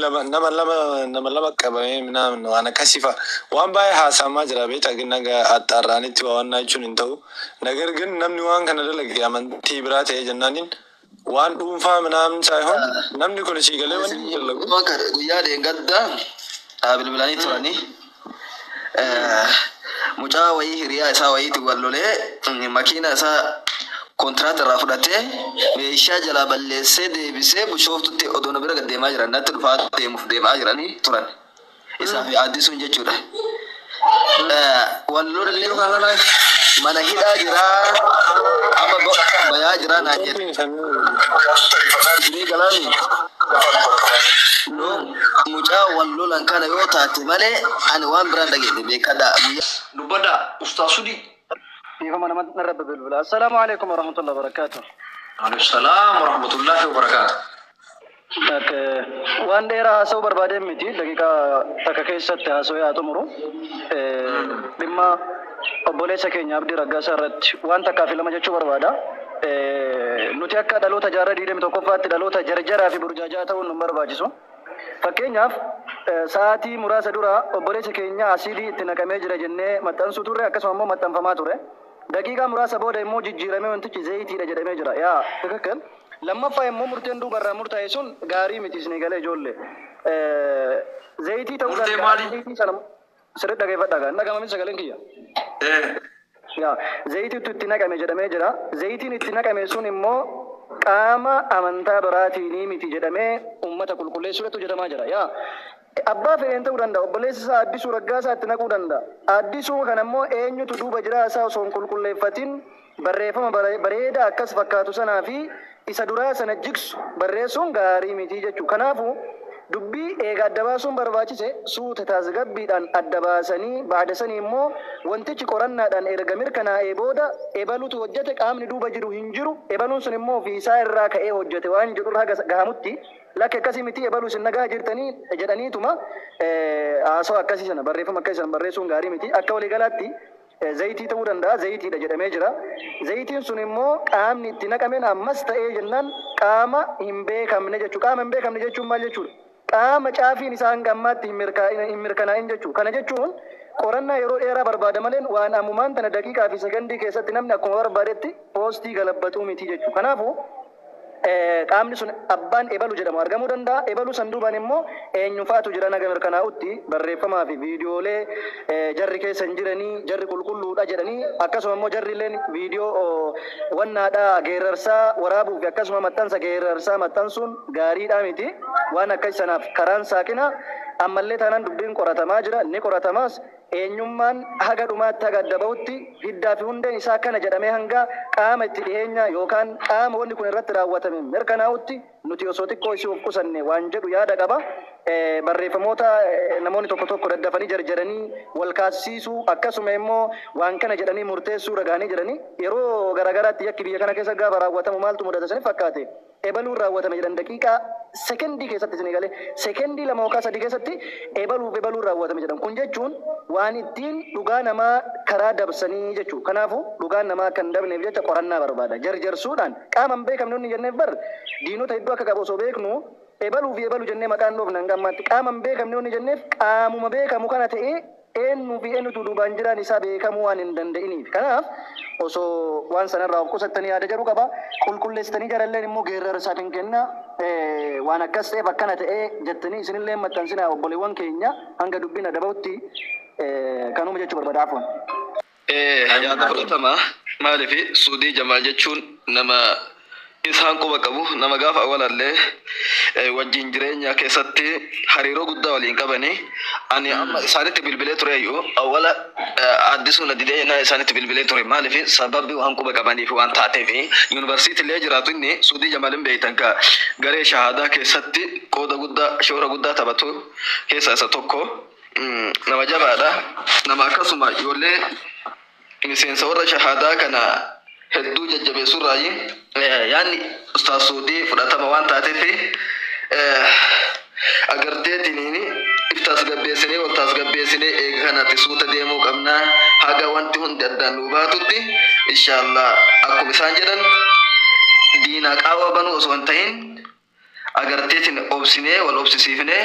lama nama lama nama lama qabamee minaan waan akkasii fa'a waan baay'ee haasa'amaa jira beektaa gin naga axxaarraanitti waa wannaa jechuun hin ta'u nagar gin namni waan kana dalage amantii biraa ta'ee jennaaniin waan dhuunfaa minaan saayihoon namni kun sii galee wanni hin dalagu Bakka guyyaa dheengaddaa haa bilbilanii turanii Mucaa wayii hiriyaa isaa wayiitiin wal lolee makiina isaa kontiraata irraa fudhatee meeshaa jalaa balleessee deebisee Bushooftutti odoo na bira gad deemaa jiran natti dhufaa deemuuf deemaa jiranii turan. Isaa fi Addisuun jechuudha. Wal lollee mana hidhaa jiraa amma bayaa jiraa naan jedhe. Isinii galaanii? mucaa wal lolan kana yoo taate malee ani waan biraan dhageenye beekadhaa guyyaa dubbadhaa ustaa sudii dhiifama nama narra bilbila assalaamu alaikum warahmatullahi wabarakaatuh Maalif salaam warahmatullahi wabarakaatu. Okay. Waan dheeraa haasa'uu barbaadeen miti daqiiqaa takka keessatti haasa'ee haa xumuru. Eh, Dhimma Obboleessa keenya Abdii Raggaasaa irratti waan takkaa fi lama jechuu barbaada. Nuti akka dhaloota jaarraa 21ffaatti dhaloota jarjaraa fi burjaaja'aa ta'uun nun barbaachisu. Fakkeenyaaf sa'aatii muraasa dura obboleessa keenya asiidii itti naqamee jira jennee maxxansuu turre akkasuma immoo maxxanfamaa ture. Daqiiqaa muraasa booda immoo jijjiiramee wantichi zayitiidha jedhamee jira. Yaa tikikkil. Lammaffaa immoo murteen duuba irraa murtaa'e sun gaarii miti isinii galee ijoollee. Zayitii ta'uu Murtee danda'a. maali? Zayitii sana Sirri dhageeffadhaa gaa hin dhagama miti sagaleen kiyya. Yaa zayitiitu itti naqame jedhamee jira. Zayitiin itti naqame sun immoo qaama amantaa biraatiinii miti jedhamee uummata qulqulleessuu irratti hojjetamaa jira. Yaa abbaa fedheen ta'uu danda'a. Obboleessi isaa Addisuu Raggaasaa itti naquu danda'a. Addisuu kana immoo eenyutu duuba jiraa isaa osoo hin qulqulleeffatin Barreeffama bareedaa akkas fakkaatu sanaa fi isa duraa sana jigsu barreessuun gaarii miti jechuudha. Kanaafuu, dubbii eega adda baasuun barbaachise suuta taasgabbiidhaan adda baasanii ba'da sanii immoo wantichi qorannaadhaan erga mirkanaa'ee booda ebalutu hojjate qaamni duuba jiru hin jiru ebaluun sun immoo ofii isaa irraa ka'ee hojjate waan jedhu irra haga gahamutti lakki akkasii miti ebalu isin dhagahaa jirtanii jedhaniituma haasawa akkasii sana barreeffama akkasii sana barreessuun gaarii miti. Akka waliigalaatti. Zayitii ta'uu danda'a, zayitiidha jedhamee jira. Zayitiin sun immoo qaamni itti naqameen ammas ta'ee jennaan qaama hin beekamne jechuudha. Qaama hin beekamne jechuun maal jechuudha? Qaama caafiin isaa hanga ammaatti hin mirkaa'in, hin mirkanaa'in jechuudha. Kana jechuun qorannaa yeroo dheeraa barbaada maleen waan ammumaan tana daqiiqaa fi sekondii keessatti namni akkuma barbaadetti poostii galabbatu miti jechuudha. Kanaafuu. qaamni sun abbaan ebalu jedhamu argamuu danda'a, ebalu san duubaan immoo eenyufaatu jiran haga mirkanaa'utti barreeffamaa fi viidiyoolee jarri keessa hin jiranii, jarri qulqulluu dha jedhanii akkasuma immoo jarri illeen viidiyoo wannaa dha geerrarsaa waraabuu fi akkasuma maxxansa geerrarsaa maxxansuun gaarii dha miti. Waan akkas sanaaf karaan saaqinaa ammallee taanaan dubbiin qoratamaa jira, ni qoratamaas. Eenyummaan haga dhumaatti haga adda bahutti hiddaa fi hundeen isaa kana jedhamee hanga qaama itti dhiheenyaa yookaan qaama wanni kun irratti raawwatame mirkanaa'utti nuti osoo xiqqoo isii of qusannee waan jedhu yaada qaba. Barreeffamoota namoonni tokko tokko daddafanii jarjaranii wal kaasisiisuu akkasuma immoo waan kana jedhanii murteessuu irra gahanii jiranii. Yeroo garaagaraatti yakki biyya kana keessatti gaafa raawwatamu maaltu mudata isinitti fakkaate? ebaluun raawwatame jedhan daqiiqaa, sekondii keessatti isin eegalee sekondii 2 yookaan 3 keessatti ebaluuf ebaluun raawwatame jedhan. Kun jechuun waan ittiin dhugaa namaa karaa dabsanii jechuu. Kanaafuu dhugaan namaa akka hin dabneef jecha qorannaa barbaada. Jarjarsuudhaan qaama hin beekamne wanni jenneef bar diinota hedduu akka qabu osoo beeknuu ebaluu fi ebalu jennee maqaa hin dhoofne hanga ammaatti. Qaama hin beekamne wanni jenneef qaamuma beekamu kana ta'ee Eennu fi eennutu duubaan jiraan isaa beekamuu waan hin danda'iniif. Kanaaf osoo waan sana irraa of qusattanii yaada jedhu qaba. Qulqulleessitanii jaralleen immoo geerrarsa hin kennaa. Waan akkas ta'eef akkana ta'e jettanii isinillee hin maxxansinaa obboleewwan keenya hanga dubbiin adda bahutti kanuma jechuu barbaada. Afwan. Ee yaada fudhatamaa maalifi suudii jamaal jechuun nama isaan quba qabu nama gaafa awalallee wajjiin jireenyaa keessatti hariiroo guddaa waliin qabani ani amma isaanitti bilbilee tureeyyu awala addisuu na didee jennaan isaanitti bilbilee ture maalifi sababbi waan quba qabaniif waan taateefi yuunivarsiitii illee jiraatu inni suudii jamaal hin beeytan ka garee shahaadaa keessatti qooda guddaa shoora guddaa taphatu keessa isa tokko nama jabaadha nama akkasuma ijoollee miseensa warra shahaadaa kana hedduu jajjabeessurraayi yaanni ustaas suudii fudhatama waan taateef agarteetiniin if tasgabbeessinee wal tasgabbeessinee eega kanatti suuta deemuu qabna haga wanti hundi addaan nuu baatutti inshaallah akkuma isaan jedhan diina qaawwa banuu osoo hin ta'in agarteetiin obsinee wal obsisiifnee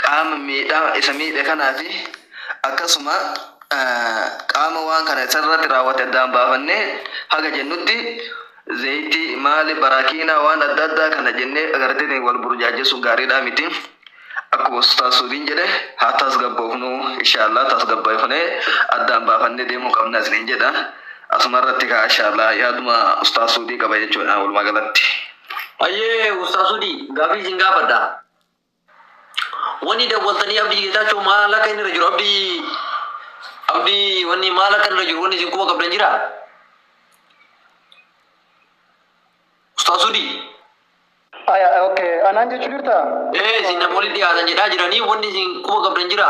qaama miidhaa isa miidhe kanaa fi akkasuma qaama waan kana isarratti raawwate addaan baafannee haga jennutti zayitii maali baraakiinaa waan adda addaa kana jennee agartee wal burjaajessuun gaariidhaa miti. Akkuma Ustaaz Suudiin jedhe haa tasgabboofnu inshaallah tasgabboofnee addaan baafannee deemuu qabna isiniin jedha. Asuma irratti kaa inshaallah yaaduma Ustaaz Suudii qaba jechuudha walumaa galatti. Ayyee Ustaaz Sudii gaafii isin gaafadha. Wanni dawwaltanii abdii geetaachoo maal akka inni irra jiru abdii abdii wanni maal akka inni irra jiru wanni isin quba qabdan jira? Ustaaz Sudii Aya, okay. Anaan jechuu jirtaa? ee isin namoonni dhiyaatan jedhaa jiranii wanni isin quba qabdan jira?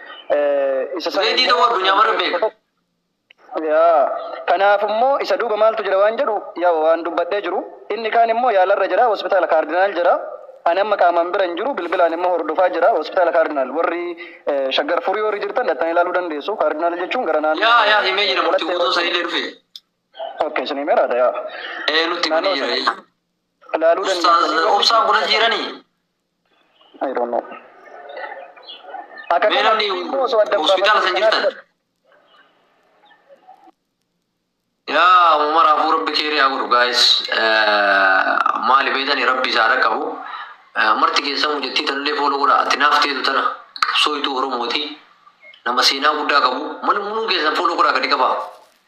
isa sana Reedii ta'uu addunyaa mara beeka. Yaa, kanaaf immoo isa duuba maaltu jira waan jedhu yaa waan dubbadhee jiru inni kaan immoo yaalarra jira hospitaala kaardinaal jira ani amma qaamaan bira hin jiru bilbilaan immoo hordofaa jira hospitaala kaardinaal warri eh, shaggar furii warri jirtan dhaxxanii ilaaluu dandeessu kaardinaal jechuun gara naannoo Yaa yaa himee jira murtii guutuun sanii illee dhufe. ok isin himeeraadha yaa Ee nutti himanii jira. ilaaluu Ustaaz dandeessu obsaan kunas jiranii. I don't know. Akka Mee namni kanatti immoo osoo adda hospitaala baafamee san kanaa jirtan. Yaa Umar Abuu Rabbi keerii haa godhu guys. Maali beetani Rabbi isaa dhaqqabu. Marti keessaa mucattii tanallee fooloo godha. Ati naaf teetu tana qabsooytuu Oromooti. Nama seenaa guddaa qabu. Mana muluu keessan fooloo godhaa gadi qabaa.